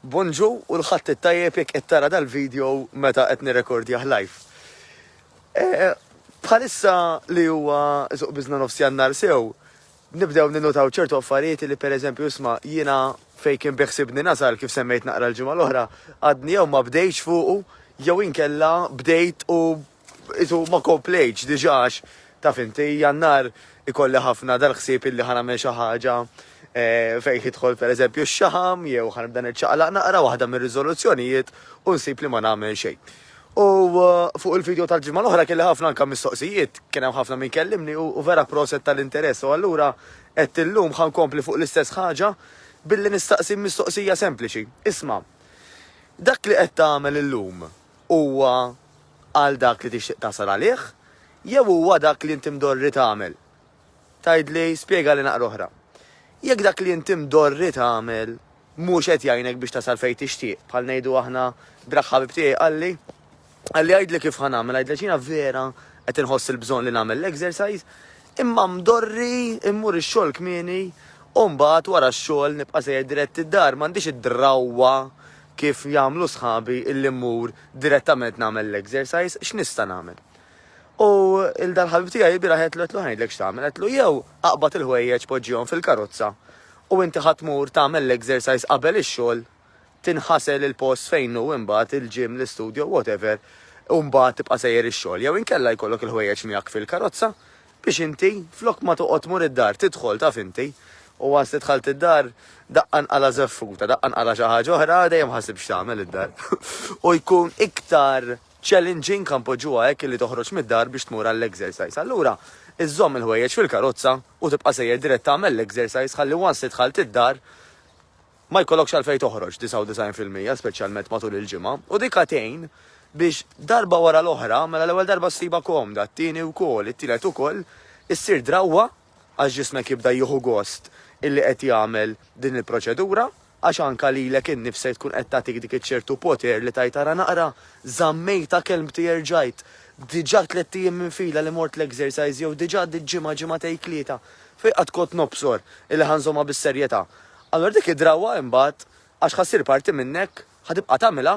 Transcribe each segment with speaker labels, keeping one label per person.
Speaker 1: Bonġu u l-Ħadd it-Tajjeb jekk qed tara dal-video meta qed nirrekordjah live. Eh, bħalissa li huwa suq biżna nofs jannar sew, nibdew ninnotaw ċertu affarijiet li per eżempju isma jiena fej kien biħsibni nasal kif semmejt naqra l-ġimgħa l-oħra, għadni jew ma bdejx fuqu jew inkella bdejt u Qisu ma komplejtx diġà għax taf inti, Jannar ikolli ħafna dal-ħsieb illi ħa nagħmel xi ħaġa fejn jidħol pereżempju x-xaħam jew ħa nibda niċċaqlaq naqra waħda mir-riżoluzzjonijiet u nsib li ma nagħmel xejn. U fuq il-video tal-ġimgħa l-oħra kelli ħafna anke mistoqsijiet, kien hemm ħafna min kellimni u vera proset tal-interess u allura għedt illum ħa nkompli fuq l-istess ħaġa billi nistaqsi mistoqsija sempliċi. Isma', dak li qed tagħmel illum, Huwa għal dak li tixtieq tasal għalih jew huwa dak li inti mdorri tagħmel? Tgħidli, spjegali naqra oħra. Jekk dak li inti mdorri tagħmel mhux qed jgħinek biex tasal fejn tixtieq, bħal ngħidu aħna brak ħabib tiegħi qalli, qalli għidli kif ħa nagħmel, għidlek jiena vera qed inħoss il-bżonn li nagħmel l-exercise, imma mdorri immur ix-xogħol kmieni u mbagħad wara x-xogħol nibqa' sejjer dirett id-dar, m'għandix id-drawwa Kif jagħmlu sħabi illi mmur direttament nagħmel l-exercise, x'nista' nagħmel? U 'l dal-ħabib tiegħi ilbieraħ għedtlu għedtlu ħa ngħidlek x'tagħmel, għedtlu jew aqbad il-ħwejjeġ poġġihom fil-karozza u inti ħa tmur tagħmel l-exercise qabel ix-xogħol, tinħasel il-post fejn hu imbagħad, il-gym, l-istudio, whatever, u mbagħad tibqa' sejjer ix-xogħol, jew inkella jkollok il-ħwejjeġ miegħek fil-karozza, Biex inti, flok ma toqgħod tmur id-dar, tidħol, taf inti. U once li dħalt id-dar, daqqa nqala' żeffuta, daqqa nqala' xi ħaġa oħra, dejjem ħasib x'tagħmel id-dar. U jkun iktar challenging, ħa npoġġuha hekk, li toħroġ mid-dar biex tmur għall-exercise. Allura, iżżomm il-ħwejjeġ fil-karozza u tibqa' sejjer dirett tagħmel l-exercise ħalli once li dħalt id-dar, ma jkollokx għalfejn toħroġ 99 fil-mija speċjalment matul il-ġimgħa u dik għad tgħin biex darba wara l-oħra mela l-ewwel darba ssibha komda, t-tieni wkoll, it-tielet ukoll, issir drawwa għax ġismek jibda jieħu gost illi qed jagħmel din il-proċedura għax anke lilek innifsek tkun qed tagħtik dik iċ-ċertu poter li tgħid ara naqra, żammejtha kelmti erġajt, diġà tlett ijiem minn fila li mort l-exercise jew diġà għaddiet ġimgħa ġimgħatejn tlieta fejn qatt kont nobsor illi ħa nżommha bis-serjetà. Allura dik id-drawwa imbagħad għax ħa ssir parti minnek, ħa tibqa' tagħmilha,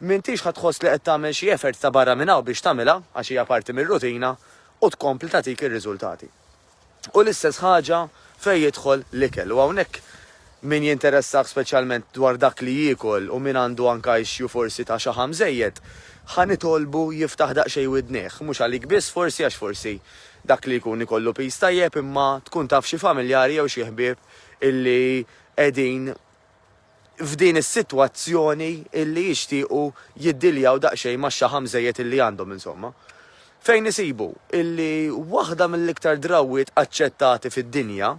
Speaker 1: m'intix ħa tħoss li qed tagħmel xi effort ta' barra minn hawn biex tagħmilha għax hija parti mir-rutina u tkompli tagħtik ir-riżultati. U l-istess ħaġa fejn jidħol l-ikel u hawnhekk min jinteressah speċjalment dwar dak li jiekol u min għandu anke issue forsi ta' xaħam żejjed, ħa nitolbu jiftaħ daqsxejn widnejh, mhux għalik biss forsi għax forsi dak li jkun ikollu piż tajjeb imma tkun taf xi familjari jew xi ħbieb illi qegħdin f'din is-sitwazzjoni illi jixtiequ jiddiljaw daqsxejn max-xaħam żejjed illi għandhom insomma. Fejn isibu illi waħda mill-iktar drawwiet aċċettati fid-dinja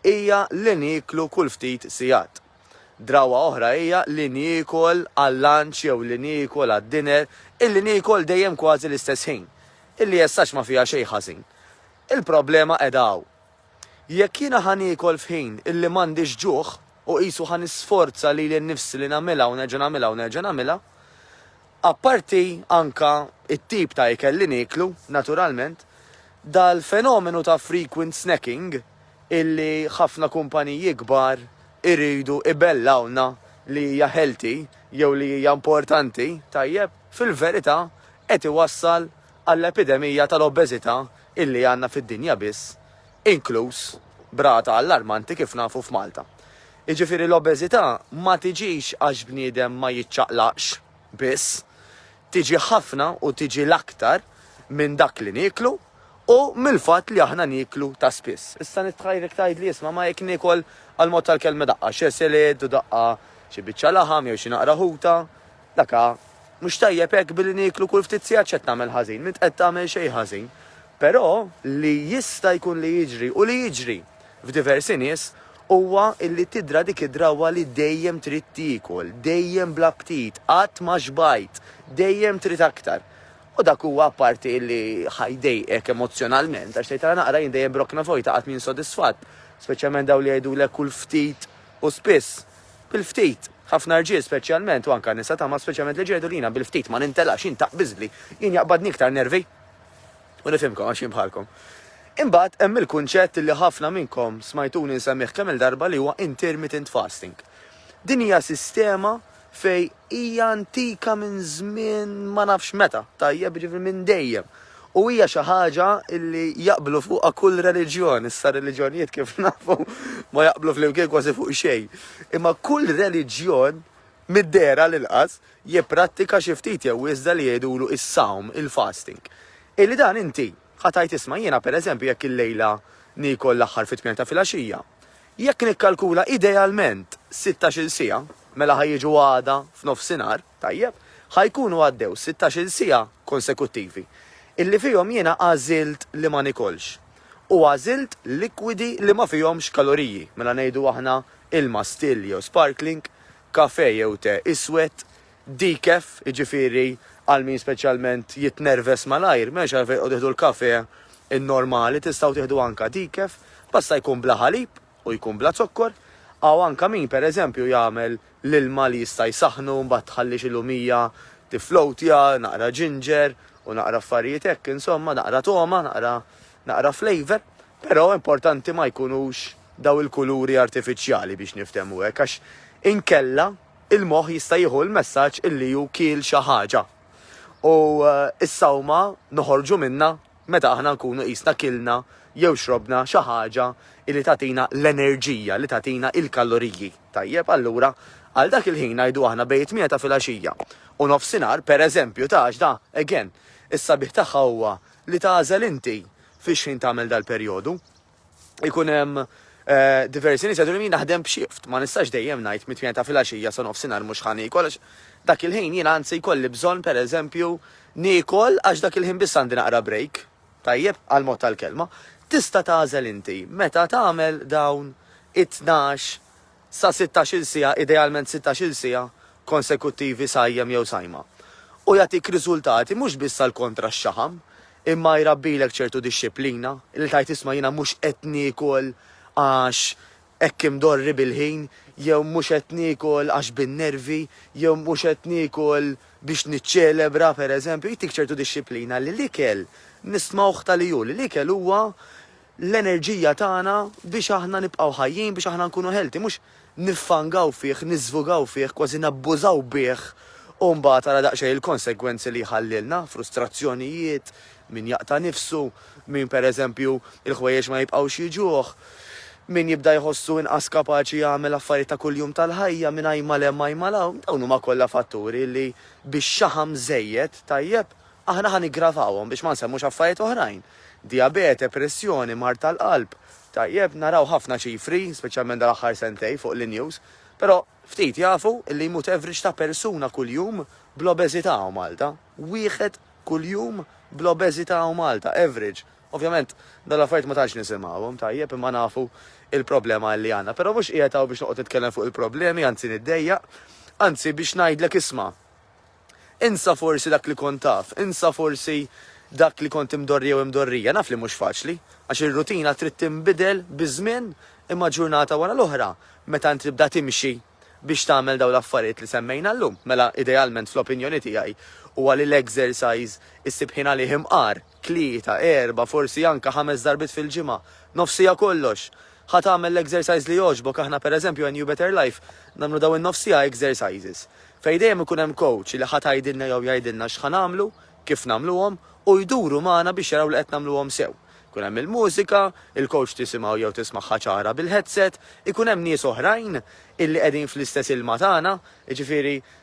Speaker 1: hija li nieklu kull ftit sigħat. Drawwa oħra hija li niekol għal-lunch jew li niekol għad-dinner, illi niekol dejjem kważi l-istess ħin, illi essax ma fiha xejn ħażin. Il-problema qiegħda hawn. Jekk jiena ħa niekol f'ħin illi m'għandix ġuħ, u qisu ħa nisforza lili nnifsi li nagħmilha u nerġa' nagħmilha u nerġa' nagħmilha, apparti anke t-tip ta' ikel li nieklu, naturalment, dal-fenomenu ta' frequent snacking illi ħafna kumpaniji kbar iridu ibellgħulna li hija healthy jew li hija importanti, tajjeb, fil-verità qed iwassal għall-epidemija tal-obeżità illi għandna fid-dinja biss, inkluż b'rata allarmanti kif nafu f'Malta. Jiġifieri l-obeżità ma tiġix għax bniedem ma jiċċaqlaqx biss, tiġi ħafna u tiġi l-aktar minn dak li nieklu u mill-fatt li aħna nieklu ta' spiss. Issa nitħajr jekk tgħidli isma' ma jekk niekol għall-mod tal-kelma daqqa xeseled u daqqa xi biċċa laħam jew xi naqra ħuta, Dak hu mhux tajjeb hekk billi nieklu kull ftit sigħat x'qed tagħmel ħażin, m'int qed tagħmel xejn ħażin. Però li jista' jkun li jiġri u li jiġri f'diversi nies huwa illi tidra dik id-drawwa li dejjem trid tiekol, dejjem bla ptit, qatt ma xbajt, dejjem trid aktar. U dak huwa apparti illi ħa jdejqek emozzjonalment għax tgħid ara naqra jien dejjem b'rokna vojta qatt m'insodisfatt, speċjalment dawn li jgħidulek kull ftit u spiss. bil-ftit. Ħafna rġiel speċjalment u anka nisa tama speċjalment li ġegħdu li jiena bil-ftit ma nintelax jien taqbiżli, jien jaqbadni iktar nervi. U nifhimkom għax jien bħalkom. Imbagħad hemm il-kunċett li ħafna minnkom smajtuni nsemmih kemm-il darba li huwa intermittent fasting. Din hija sistema fej hija antika minn żmien ma nafx meta, tajjeb, jiġifieri minn dejjem. U hija xi ħaġa li jaqblu fuqha kull reliġjon, issa r-reliġjonijiet kif nafu ma jaqblu flimkien kważi fuq xejn. Imma kull reliġjon, mid-dehra għall-inqas, jipprattika xi ftit jew wisda li jgħidulu is-sawm, il-fasting. Illi dan inti, ħa tgħid isma' jiena pereżempju jekk illejla niekol l-aħħar fit-tmien ta' filgħaxija, Jekk nikkalkula idealment sittax-il siegħa, mela ħa jiġu għada f'nofsinhar, tajjeb, ħa jkunu għaddew sittax-il siegħa konsekuttivi, illi fihom jiena għażilt li ma nikolx, u għażilt likwidi li ma fihomx kaloriji, mela ngħidu aħna ilma still jew sparkling, kafè jew te iswed, Decaf, jiġifieri għal min speċjalment jitnerves malajr, m'hemmx għalfejn tqogħdu tieħdu l-kafè in-normali, tistgħu tieħdu anka decaf, basta jkun bla ħalib u jkun bla zokkor. Hawn anka min, per eżempju, jagħmel l-ilma li jista' jsaħħnu, mbagħad tħalli xi lumija tifflowtja, naqra ginger u naqra affarijiet hekk, insomma, naqra togħma, naqra naqra flavour. Però importanti ma jkunux dawn il-kuluri artifiċjali biex niftehmu hekk, għax inkella, Il-moħħ jista' jieħu l-messaġġ illi hu kiel xi ħaġa. U s-sawma noħorġu minnha meta aħna nkunu qisna kilna jew xrobna xi ħaġa illi tagħtina l-enerġija, li tagħtina il-kaloriji. Tajjeb, allura, għal dak il-ħin ngħidu aħna bejn it-tmienja ta' filgħaxija u nofsinhar, pereżempju, ta' għaxda, again, is-sabiħ tagħha huwa li tagħżel inti fix-xħin tagħmel dal-perjodu. ikun hemm eh, diversi nies jgħidu li naħdem b'xift, ma nistax dejjem ngħid mit-tmien ta' filgħaxija sa nofsinhar mhux ħani kollox. Dak il-ħin jien anzi jkolli bżonn pereżempju niekol għax dak il-ħin biss għandi naqra break. Tajjeb għal mod tal-kelma. Tista' tagħżel inti meta tagħmel dawn it-tnax sa sittax-il siegħa, idealment sittax-il siegħa, konsekuttivi sajjem jew sajma. U jagħtik riżultati mhux biss għall-kontra x-xaħam, imma jrabbilek ċertu dixxiplina, li tgħid isma' jiena mhux qed niekol għax hekk imdorri bil-ħin, jew mhux qed niekol għax bin-nervi, jew mhux qed niekol biex niċċelebra, pereżempju, jtik ċertu dixxiplina li l-ikel nismgħuh ta' li hu, li l-ikel huwa l-enerġija tagħna biex aħna nibqgħu ħajjin, biex aħna nkunu healthy, mhux niffangaw fih, niżvugaw fih, kważi nabbużaw bih u mbagħad ara daqsxejn il-konsegwenzi li jħallilna, frustrazzjonijiet, min jaqta' nifsu, min pereżempju l-ħwejjeġ ma jibqgħux jiġuh, min jibda jħossu inqas kapaċi jagħmel affarijiet ta' kuljum tal-ħajja, min ajma' 'l hemm ajma' 'l hawn, dawn huma kollha fatturi li bix-xaħam żejjed, tajjeb, Aħna ħa niggravawhom biex ma nsemmux affarijiet oħrajn, dijabete, pressjoni, mard tal-qalb. Tajjeb, naraw ħafna ċifri, speċjalment dal-aħħar sentejn fuq l-news, però ftit jafu li jmut average ta' persuna kuljum bl-obeżità hawn Malta. Wieħed kuljum bl-obeżità hawn Malta, average. Ovvjament, dawn l-affarijiet ma tantx nisimgħuhom, tajjeb, imma nafu l-problema li għandna. Però mhux qiegħed hawn biex noqgħod nitkellem fuq il-problemi, anzi niddejjaq, anzi biex ngħidlek isma'. Insa forsi dak li kont taf, insa forsi dak li kont imdorri jew imdorrija. Naf li mhux faċli, għax ir-rutina trid tinbidel biż-żmien imma ġurnata wara l-oħra meta inti tibda timxi biex tagħmel dawn l-affarijiet li semmejna llum, mela idealment fl-opinjoni tiegħi huwa li l-exercise issib ħin għalih imqar. tlieta, erba', forsi anke ħames darbiet fil-ġimgħa, nofs siegħa kollox. Ħa tagħmel l-exercise li jogħġbok, aħna per eżempju għen You Better Life nagħmlu dawn in-nofs siegħa exercises fejn dejjem ikun hemm coach li ħa tgħidilna jew jgħidilna x'ħa nagħmlu, kif nagħmluhom u jduru magħna biex jaraw li qed nagħmluhom sew. Ikun hemm il-mużika, il-coach tisimgħu jew tismagħha ċara bil-headset, ikun hemm nies oħrajn illi qegħdin fl-istess ilma tagħna, jiġifieri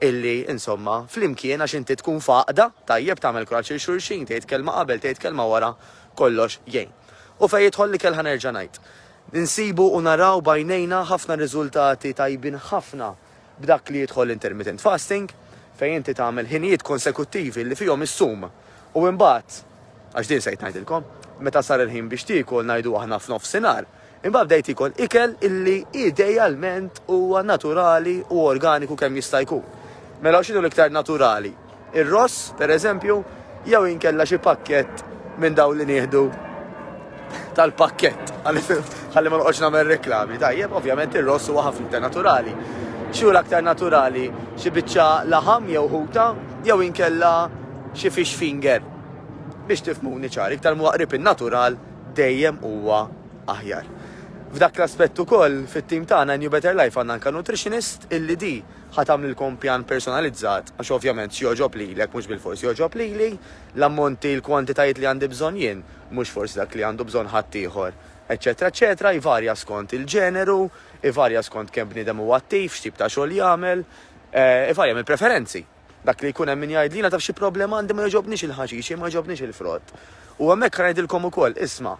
Speaker 1: illi, insomma, flimkien għax inti tkun f'għaqda, tajjeb tagħmel kuraġġ lil xulxin, tgħid kelma qabel, tgħid kelma wara, kollox jgħin. U fejn jidħol l-ikel ħa nerġa' ngħid. Insibu u naraw b'għajnejna ħafna riżultati tajbin ħafna b'dak li jidħol l-intermittent fasting, fejn inti tagħmel ħinijiet konsekuttivi li fihom issum u imbagħad, għax din sejt ngħidilkom, meta sar il-ħin biex tiekol ngħidu aħna f'nofsinhar, Imbagħad bdejt iekol ikel illi idealment huwa naturali u organiku kemm jista' jkun. Mela u x'inhu l-iktar naturali? Ir-ross, pereżempju, jew inkella xi pakkett minn dawn li nieħdu tal-pakkett. Ħalli ma noqgħodx nagħmel reklami. Tajjeb, ovvjament ir-ross huwa ħafna iktar naturali. X'hu l-aktar naturali? Xi biċċa laħam jew ħuta jew inkella xi fish finger. Biex tifmuni ċar, iktar mwaqrib in-natural dejjem huwa aħjar. F'dak l-aspett ukoll, fit-tim tagħna New Better Life għandna anke nutritionist illi di ħa tagħmlilkom pjan personalizzat għax ovvjament x'jogħġob lilek mhux bilfors jogħġob lili, l-ammonti, l-kwantitajiet li għandi bżonn jien mhux forsi dak li għandu bżonn ħaddieħor, eċċetera eċċetera Jvarja skont il-ġeneru, ivarja skont kemm bniedem huwa attiv, x'tip ta' xogħol jagħmel, ivarja mill-preferenzi. Dak li jkun hemm min jgħidlina taf xi problema għandi ma jogħġobniex il-ħaxix jew ma jogħġobniex il-frott. U hemmhekk ħa ngħidilkom ukoll, isma',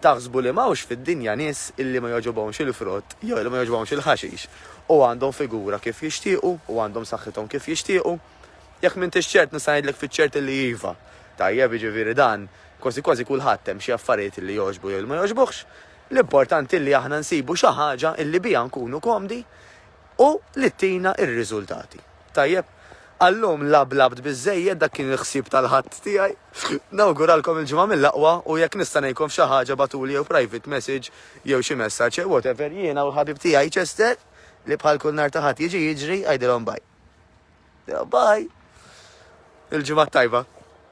Speaker 1: taħsbu li m'hawnx fid-dinja nies illi ma jogħġobhomx il-frott jew li ma jogħġbhomx il-ħaxix, u għandhom figura kif jixtiequ u għandhom saħħithom kif jixtiequ? Jekk m'intix ċert nista' ngħidlek fiċ-ċert illi iva. Tajjeb, jiġifieri dan, kważi kważi kulħadd hemm xi affarijiet illi jogħġbu jew li ma jogħġbuhx. L-importanti li aħna nsibu xi ħaġa illi biha nkunu komdi, u li tina r-riżultati. Tajjeb, għallum lab labt biżżejjed dak kien il-ħsieb tal-Ħadd tiegħi. Nawguralkom il-Ġimgħa mill-aqwa u jekk nista' ngħinkom f'xi ħaġa bagħtuli jew private message jew xi messaġġ jew whatever jiena u l-ħabib tiegħi Chester li bħal kull nhar ta' Ħadd jiġi jiġri għidilhom bye. Bye! Il-Ġimgħa t-tajba.